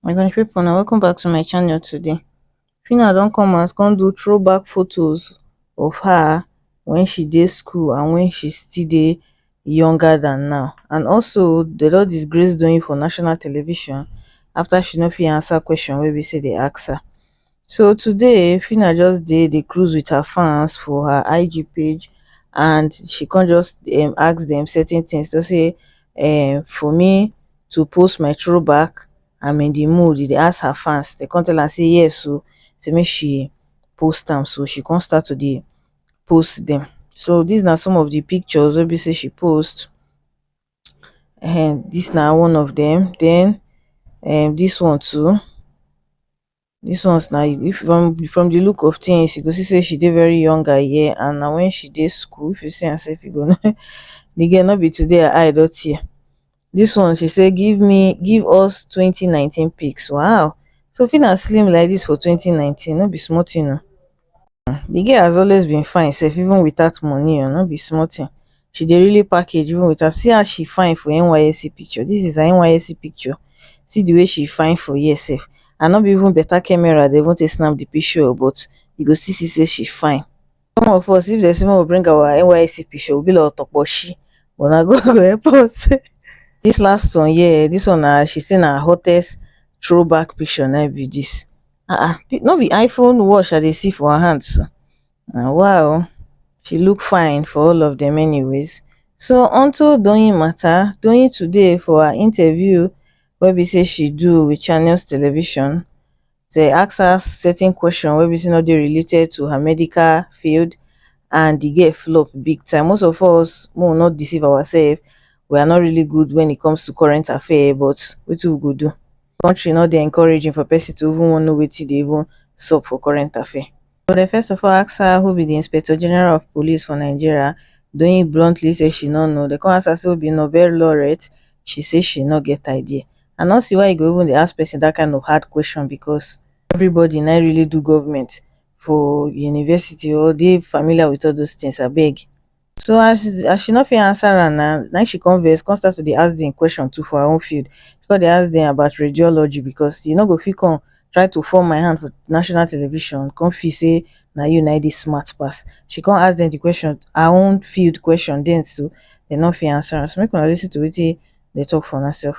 my country people na welcome back to my channel today Phyna don come out come do throwback photos of her when she dey school and when she still dey younger than now and also dem don disgrace Doyin for national television after she no fit answer question wey be say dey ask her so today phyna just dey dey cruise wit her fans for her IG page and she come just um ask dem certain tins just say um for me to post my throwback I'm in di mood e dey ask her fans dem come tell am say yes o say make she post am so she come start to dey post dem so dis na some of di pictures wey be say she post um dis na one of dem den um dis one too Dis ones na if from from di look of tins you go see sey she dey very young her year and na wen she dey school if you see am sef you go know di girl no be today her eye don tear. Dis one she sey give me give us twenty nineteen pics waow so Phyna slim like dis for twenty nineteen no be small tin oh. um the girl has always been fine sef even without money um no be small thing she dey really package even without see as she fine for nysc picture this is her nysc picture see the way she fine for here sef and no be even better camera dey even take snap the picture o but you go still see say she fine some of us if dem say make we bring our nysc picture we be like otoposhi but na God go help us um this last one here this one na she say na her hottest throw back picture na im be this um no be iphone watch i dey see for her hand so? na wa o she look fine for all of dem anyways so onto doyin mata doyin today for her interview wey be say she do with channels television dey ask her certain question wey be say no dey related to her medical field and the girl flop big time most of us make we no deceive ourselves we are not really good when it comes to current affair but wetin we go do di kontri no dey encouraging for pesin to even wan know wetin dey even sup for current affair so dem first of all ask her who be di inspector general of police for nigeria doyin bluntly say she no know dem come ask her say who be nobel laureate she say she no get idea i no see why you go even dey ask pesin dat kain of hard question becos everybody na im really do goment for university or dey familiar wit all those tins abeg so as as she no fit answer am na na she come vex come start to dey ask dem question too for her own field she come dey ask dem about radiology because you no go fit come try to fall my hand for national television come feel sey na you na im dey smart pass she come ask dem de question her own field question dem too dem no fit answer am so make una listen to wetin dem talk for una self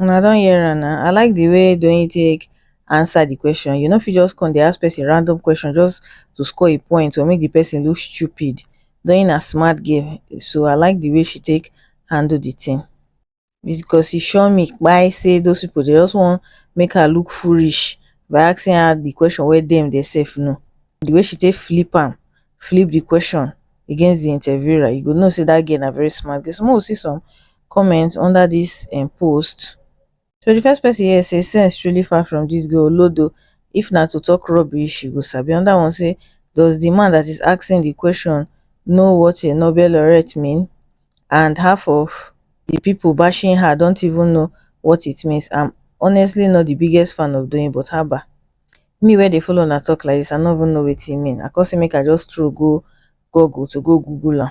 Una don hear am na, I like the way Doyin take answer the question, you no fit just come dey ask person random question just to score a point or make the person look stupid, Doyin na smart girl so I like the way she take handle the thing because e sure me kpai say those people dey just wan make her look foolish by asking her the question wey dem dey sef know, the way she take flip am, flip the question against the interviewer you go know say that girl na very smart girl, so make we see some comment under this um post so the first person here say sense truly far from this girl olodo if na to talk rubbish she go sabi another one say does the man that is asking the question know what a noble laureate mean and half of the people bashing her don't even know what it means i'm honestly not the biggest fan of doyin but haba me wey dey follow una talk like this i no even know wetin e mean i come say make i just stroll go google to go google am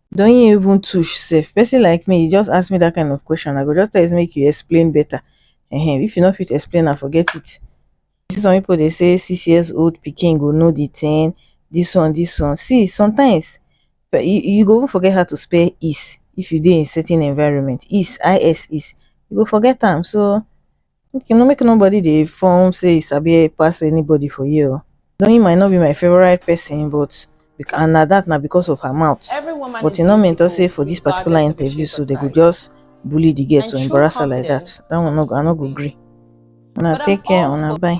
doyin even tush sef person like me you just ask me that kind of question i go just tell you say make you explain better um if you no fit explain am forget it you see some people dey say six years old pikin go know the thing this one this one see sometimes you go even forget how to spell is if you dey in certain environment is I S is you go forget am so make no make no body dey form say e sabi pass anybody for here oo Doyin might not be my favourite person but and na that na because of her mouth but e no mean talk say for this particular interview so they go just bully the girl to embarrass her like that that one no go I no go gree una take care una bye.